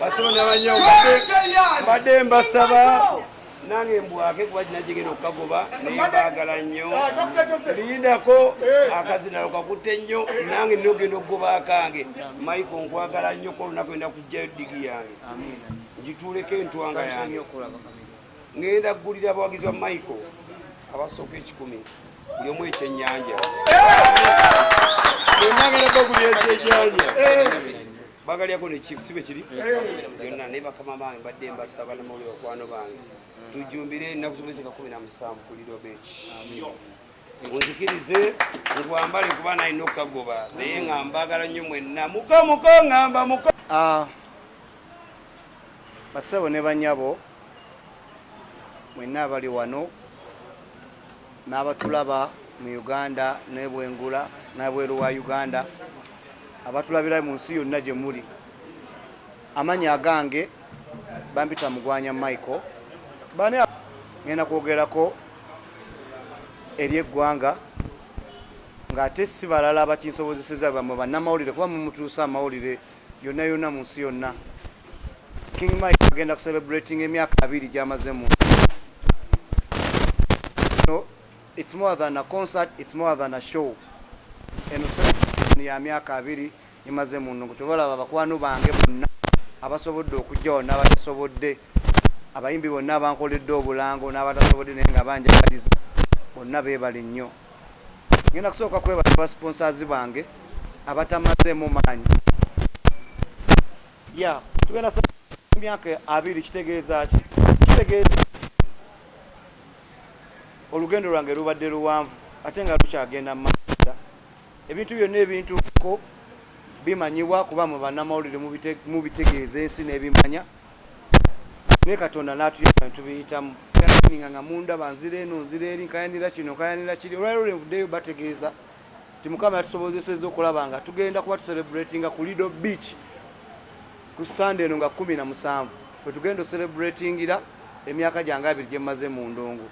basolo nabanyo mbadde mbasaba nange mbwake kuba kina kigenda okukagoba naye bagala nnyo liyindako eh. akazinalo kakutte nnyo nange nina okugenda okugoba akange maiko nkwagala nnyo ko olunaku enda kujjayo digi yange ngituuleko entwanga yange ngenda kugulira abawagizi ba maiko abasooka ekikumi buli omu ekyenyanja eh. enagenda bagulira ekyenyanja eh. bagalyako ne chief sibe kiri yonna naye bakama bange mbadde mbasa banamawulire bakwano bange tujjumbire ennaku zomwezika kumi na musanvu ku lido beach munzikirize nkwambale kuba nalina okukagoba naye nga mbagala nnyo mwenna muka muka ngamba muka ah, basebo ne banyabo mwenna abali wano N'abatulaba mu Uganda n'ebwengula n'ebweru wa Uganda, abatulabira mu nsi yonna gye muli, amannya agange bampita Mugwanya Michael. B'ani abo? Ng'enda kwogerako eri eggwanga ng'ate si balala abakinsobozesezza, bwe mmwe bannamawulire kuba mwe mutuusa amawulire. yonna yonna mu nsi yonna King Mike agenda ku celebrating emyaka abiri gyamaze mu no it's more than a concert it's more than a show eno celebration ya myaka abiri imaze mu nungu kyobalaba bakwano bange bonna abasobodde okujja wano n'abatasobodde abayimbi bonna abankoledde obulango n'abatasobodde naye nga banjagaliza bonna beebale nnyo ngenda kusooka kwebaza ba sponsors bange abatamazeemu maanyi ya tugenda sa myaka abiri kitegeeza ki kitegeeza olugendo lwange lubadde luwanvu ate nga lukyagenda mumaaoda ebintu byonna ebintuko bimanyibwa kuba mu bannamawulire mubitegeeza ensi n'ebimanya naye katonda natuyamba netubiyitamu kyaninga nga munda banzira eno nzira eri nkayanira kino nkayanira kiri olwaliro lwenvuddeyo bategeeza nti mukama yatusobozeseza okulaba nga tugenda kuba tuserebratinga ku lido beach ku sande eno nga kumi na musanvu wetugenda oserebratingira emyaka gyange abiri gyemmaze mu ndongo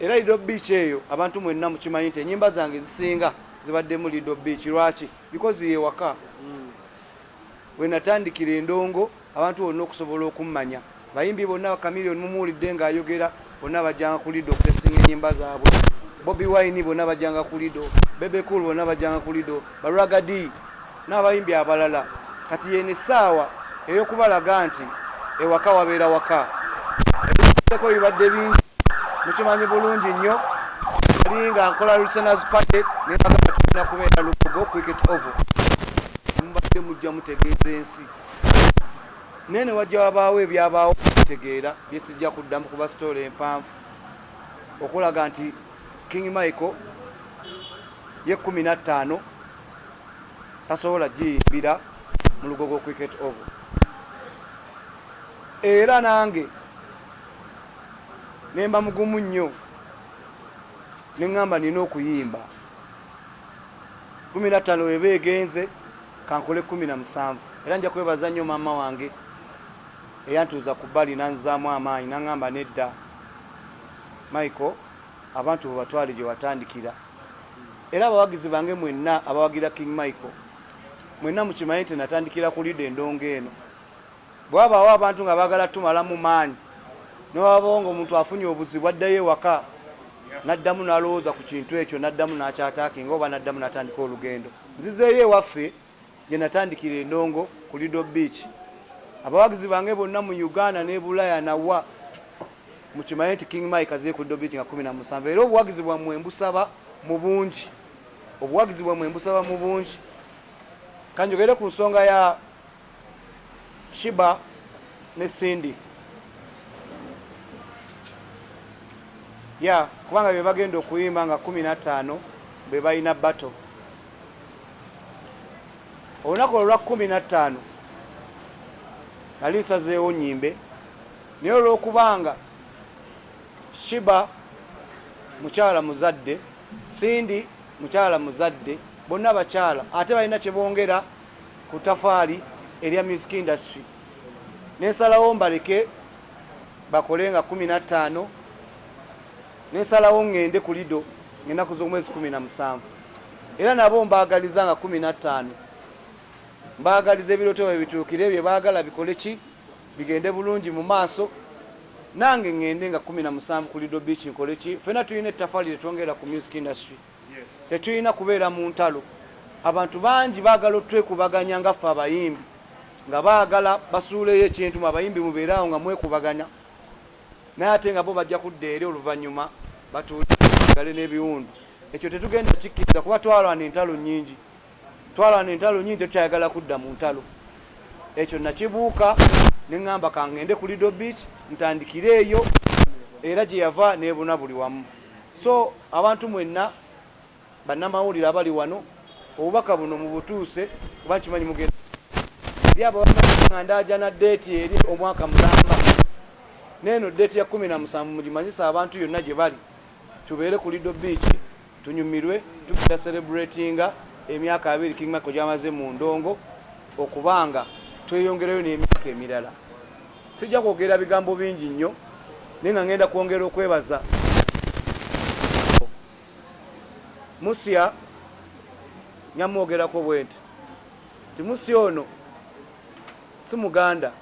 era lido beach eyo abantu mwenna mukimanyi nti enyimba zange zisinga zibaddemu lido beach lwaki because yewaka mm. We natandikira e Ndongo abantu bonna okusobola okummanya. Abayimbi bonna ba Chameleone mumuwulidde ng'ayogera bonna bajjanga ku Lido okutesitinga ennyimba zaabwe. Bobi Wine bonna bajjanga ku Lido, Bebe Cool bonna bajjanga ku Lido, ba Ragga Dee n'abayimbi abalala. Kati y'eno essaawa ey'okubalaga nti. ewaka wabeera waka ebiseko bibadde bingi mukimanyi bulungi nnyo ali nga nkola listeners party nebagamba tulina kubeera lugogo cricket ovo mubadde mujja mutegeeza ensi naye newajja wabaawo ebyabaawo tegeera byesijja kuddamu kuba sitoola empanvu okulaga nti king michael ye kumi nattaano tasobola giyimbira mu lugogo cricket oval era nange nemba mugumu nnyo neŋŋamba nina okuyimba kumi na ttaano weba egenze kankole kumi na musanvu era nja kwebaza nnyo maama wange eyantuuza ku bbali nanzaamu amaanyi naŋŋamba nedda michael abantu bebatwale gye watandikira Era abawagizi bange mwenna abawagira King Michael, mwenna mukimanye nti natandikira ku Leader endongo eno. Bwewabaawo abantu nga baagala tumalamu maanyi, newababawo nga omuntu afunye obuzibu addayo ewaka naddamu nalowooza ku kintu ekyo naddamu nakyataakinga oba naddamu natandika olugendo, nzizeeyo ewaffe. gye natandikira e Ndongo ku Lido Beach. Abawagizi bange bonna mu Uganda n'e Bulaya na wa mukimanye nti King Mike azze ku Lido Beach nga kkumi na musanvu era obuwagizi bwammwe mbusaba mu bungi obuwagizi bwammwe mbusaba mu bungi. Ka njogere ku nsonga ya Shiba ne Cindy. Ya kubanga be bagenda okuyimba nga kkumi na ttaano be balina battle. olunaku olwa kkumi na ttaano nali nsazeewo nyimbe naye olw'okubanga shiba mukyala muzadde sindi mukyala muzadde bonna abakyala ate balina kyebongera ku tafaali erya music industry nensalawo mbaleke bakole nga kumi na ttaano nensalawo ŋŋende ku lido ngenaku z'omwezi kumi na musanvu Era nabo mbaagaliza nga kkumi na ttaano. Mbaagaliza ebirooto byabwe bituukire, bye baagala bikole ki? Bigende bulungi mu maaso. Nange ŋŋende nga kkumi na musanvu ku Lido Beach nkole ki? Ffena tulina ettafali lye twongerera ku music industry. Tetulina kubeera mu ntalo. Abantu bangi baagala otwekubaganya nga ffe abayimbi, nga baagala basuuleyo ekintu. Mwe abayimbi mubeere awo nga mwekubagana. naye ate nga bo bajja kudda eri oluvannyuma batuule bagale n'ebiwundu. Ekyo tetugenda kukikkiriza kuba twalwana entalo nnyingi, twalwana entalo nnyingi, tetukyayagala kudda mu ntalo. Ekyo nakibuuka ne ŋŋamba ka ŋŋende ku Lido Beach ntandikire eyo era gye yava n'ebuna buli wamu. So abantu mwenna Bannamawulire abali wano obubaka buno mubutuuse kuba nkimanyi mugenda kubutuusa eri abo abamanyi nga ndaajana ddeeti eri omwaka mulamba n'eno ddeeti ya kkumi na musanvu mugimanyise abantu yonna gye bali tubeere ku Lido bbiici tunyumirwe tugenda serebuleetinga emyaka abiri King Michael gy'amaze mu ndongo okuba nga tweyongerayo n'emyaka emirala. Sijja kwogera bigambo bingi nnyo naye nga ngenda kwongera okwebaza. Musya nyamwogerako bwenti nti musya ono si muganda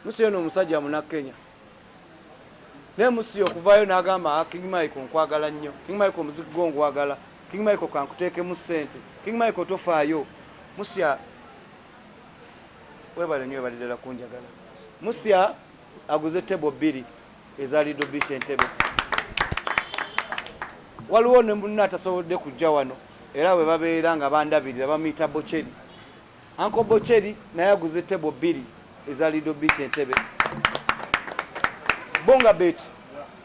musya ono omusajja munakenya naye musya okuvayo nagamba ah, king michael nkwagala nnyo king michael omuziki gwo ngwagala king michael kankuteekemu sente king michael tofaayo musya webale nyo webale ddala kunjagala musya aguze tebo bbiri eza Lido Beach Entebbe. Waliwo ne munna atasobodde kujja wano era bwe babeera nga bandabirira bamuyita Bocheri. Anko Bocheri naye aguze tebo bbiri eza Lido Beach Entebbe. Bonga Bet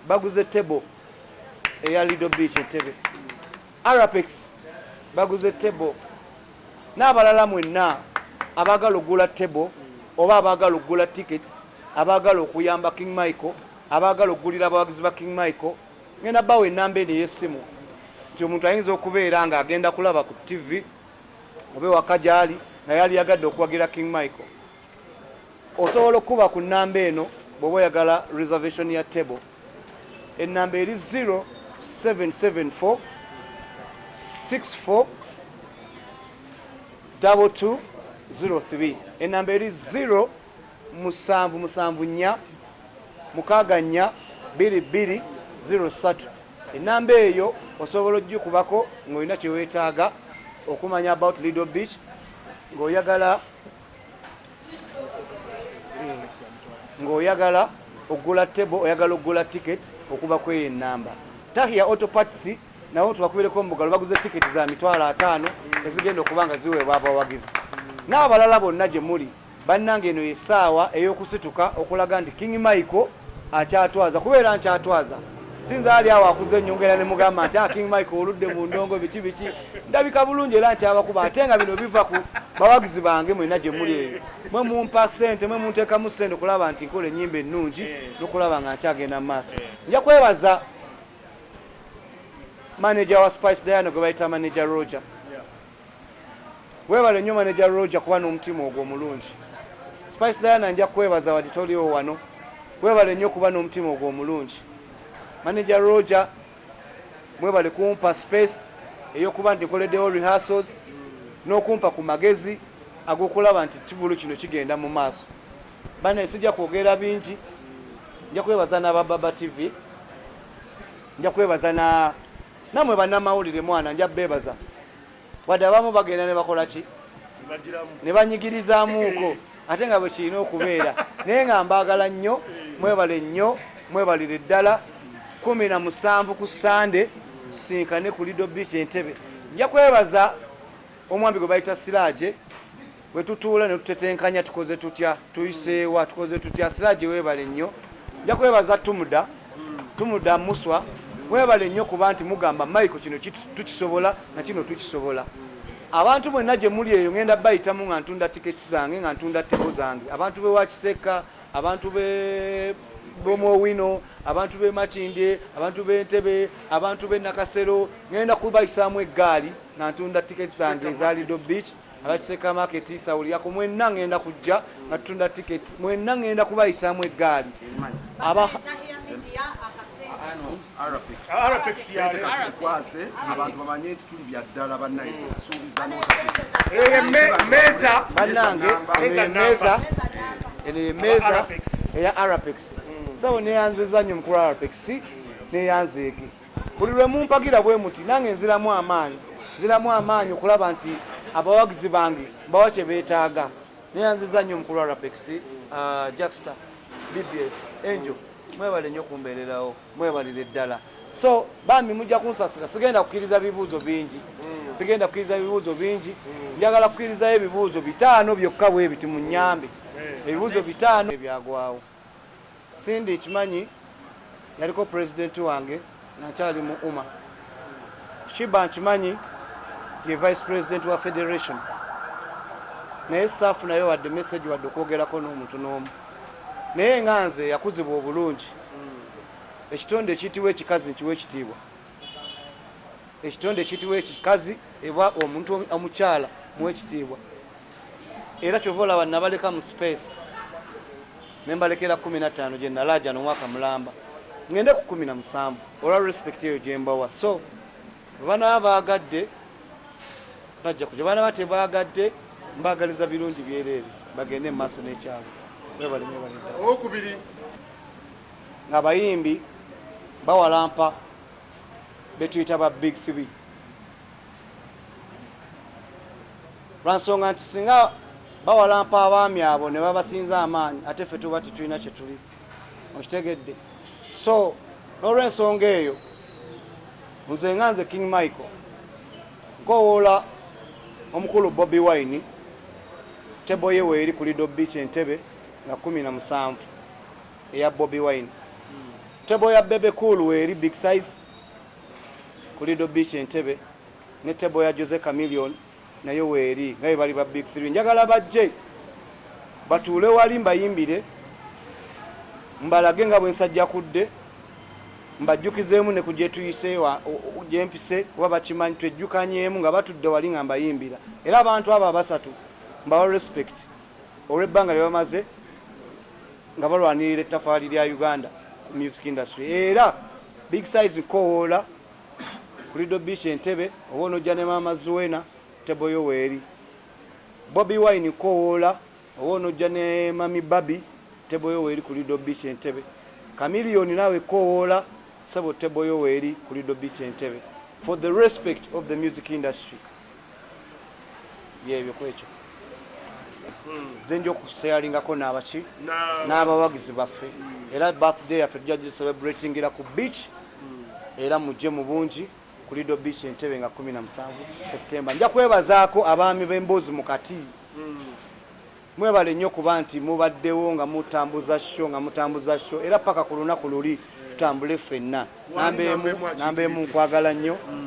baguze tebo eya Lido Beach Entebbe. Arapex baguze table n'abalala mwenna abaagala okugula table oba abaagala okugula tickets abaagala okuyamba King Michael abaagala okugulira abawagizi ba King Michael ngenda bawa ennamba eno ey'essimu nti omuntu ayinza okubeera ng'agenda kulaba ku ttivi oba ewaka gy'ali naye aliyagadde okuwagira King Michael osobola okukuba ku nnamba eno bw'oba oyagala reservation ya table Ennamba eri 0774642203. Ennamba eri 0 musanvu musanvu nnya mukaaga nnya bbiri bbiri ziro ssatu. Ennamba eyo osobola okugikubako ng'olina kye weetaaga okumanya about Lido Beach ng'oyagala ng'oyagala okugula table oyagala okugula ticket okuba kweyo enamba tahia auto parts nawo tubakubereko omugalo baguze ticket za mitwalo ataano ezigenda okuba nga ziweebwa abawagizi n'abalala bonna gye muli bannanga eno yesaawa ey'okusituka okulaga nti king michael Akyatwaza kuba era nkyatwaza. Sinze ali awo akuze nyongera ne mugamba nti ah King Mike oludde mu ndongo biki biki. Ndabika bulungi era nkyabakuba ate nga bino biva ku bawagizi bange mwena gye muli eyo. Mwe mumpa ssente, mwe muntekamu ssente okulaba nti nkola ennyimba ennungi n'okulaba nga nkyagenda mu maaso. Nja kwebaza maneja wa Spice Diana gwe bayita maneja Roger Webale nyo manager Roger kuba nomutima ogwo omulungi. Spice Diana nja kwebaza wadi toliwo wano. Webale nyo kuba nomutima ogwo omulungi. Manager Roger mwebale kumpa space eyokuba nti nkoledewo rehearsals nokumpa ku magezi agokulaba nti kivulu kino kigenda mu maaso. Banaye sijja kwogera bingi. Nja kwebaza naba Baba TV. Nja kwebaza na Namwe banamawulire mwana nja bebaza wadde abamu bagenda nebakolaki nebanyigirizamuuko ate nga bwekirina okubeera naye nga mbagala nnyo mwebale nnyo mwebalire ddala kumi na musanvu ku sande tusinkane ku lido beach entebe nja kwebaza omwami gwe bayita siraje Bwe tutuula ne tutetenkanya tukoze tutya, tuyise wa, tukoze tutya, Siraje weebale nnyo. Nja kwebaza Tumuda, Tumuda Muswa, mwebale nnyo kuba nti mugamba Michael kino tukisobola na kino tukisobola. Abantu mwenna gye muli eyo ngenda bayitamu nga ntunda tiketi zange nga ntunda tebo zange. Abantu b'e Wakisekka, abantu b'e b'omu owino abantu b'e makindye abantu b'e ntebe abantu b'e nakasero ŋenda kubayisaamu eggaali nga ntunda tiketi zange eza lido beach Aba Kiseka Market sawulirako mwenna ngenda kujja nga tutunda tickets mwenna ngenda kubayisaamu eggaali aba kwase abantu bamanye nti tuli bya ddala bannayisi kusuubiza meza bannange meza eno ye meza eya arapex sawo neyanzeza nnyo mukulu arapex neyanzeege Buli lwe mumpagira bwe muti nange nziramu amaanyi. Nziramu amaanyi okulaba nti abawagizi bange mbawa kye beetaaga. Neeyanzizza nnyo omukulu wa Rapex, Jaxta, BBS, Angel, mwebale nnyo kumbeererawo, mwebalire ddala. So bambi mujja kunsasira, sigenda kukkiriza bibuuzo bingi, sigenda kukkiriza bibuuzo bingi, njagala kukkirizayo ebibuuzo bitaano byokka bwe biti munnyambe, ebibuuzo bitaano. Byagwawo. Cindy nkimanyi yaliko president wange nga nkyali mu Uma. Shiba nkimanyi nti ye vice president wa federation naye saafunayo wadde message wadde okwogerako n'omuntu n'omu naye nga nze yakuzibwa obulungi ekitonde ekiyitibwa ekikazi nkiwa ekitiibwa. ekitonde ekiyitibwa ekikazi eba omuntu omukyala muwekitiibwa era kyova olaba nabaleka mu space nembalekera kumi nattaano gye nalaajana omwaka mulamba ngende ku kumi na musanvu olwa respect eyo gyembawa so bwebanaba baagadde bajja kuja banaba tebaagadde mbaagaliza birungi byereere bagende mu maaso n'ekyalo webalemwebalidda okubiri Ng'abayimbi bawalampa be tuyita ba Big Three lwa nsonga nti singa bawalampa abaami abo ne babasinza amaanyi ate ffe tuba tetulina kye tuli okitegedde so n'olwensonga eyo nze nga nze king michael nkowoola omukulu bobi wine tebo ye weeri ku lido beach entebe nga kumi na musanvu eya Bobi Wine. Table ya Bebe Cool weeri Big Size ku Lido Beach e Ntebe ne table ya Jose Chameleone nayo weeri nga bwe bali ba Big Three. Njagala bajje batuule wali mbayimbire, mbalage nga bwe nsajjakudde, mbajjukizeemu ne ku gye tuyise gye mpise kuba bakimanyi twejjukanyeemu nga batudde wali nga mbayimbira era abantu abo abasatu mbawa respect. olw'ebbanga lye bamaze nga balwanirira ettafaali lya Uganda ku music industry era Big Size nkowoola ku Lido Beach Entebbe oba onojja ne maama Zuena table yo weeri Bobi Wine nkowoola oba onojja ne mami Babi table yo weeri ku Lido Beach Entebbe Chameleone naawe kowoola ssebo table yo weeri ku Lido Beach Entebbe for the respect of the music industry byebyo kwekyo nze nja okuseyalingako n'abaki n'abawagizi baffe era birthday yaffe tujja gicelebretingira ku beach era mujje mu bungi ku lido beach entebe nga 17 septemba nja kwebazaako abaami b'emboozi mu kati mwebale nnyo kuba nti mubaddewo nga mutambuza sho nga mutambuza sho era paka ku lunaku luli tutambule ffenna namba emu namba emu nkwagala nnyo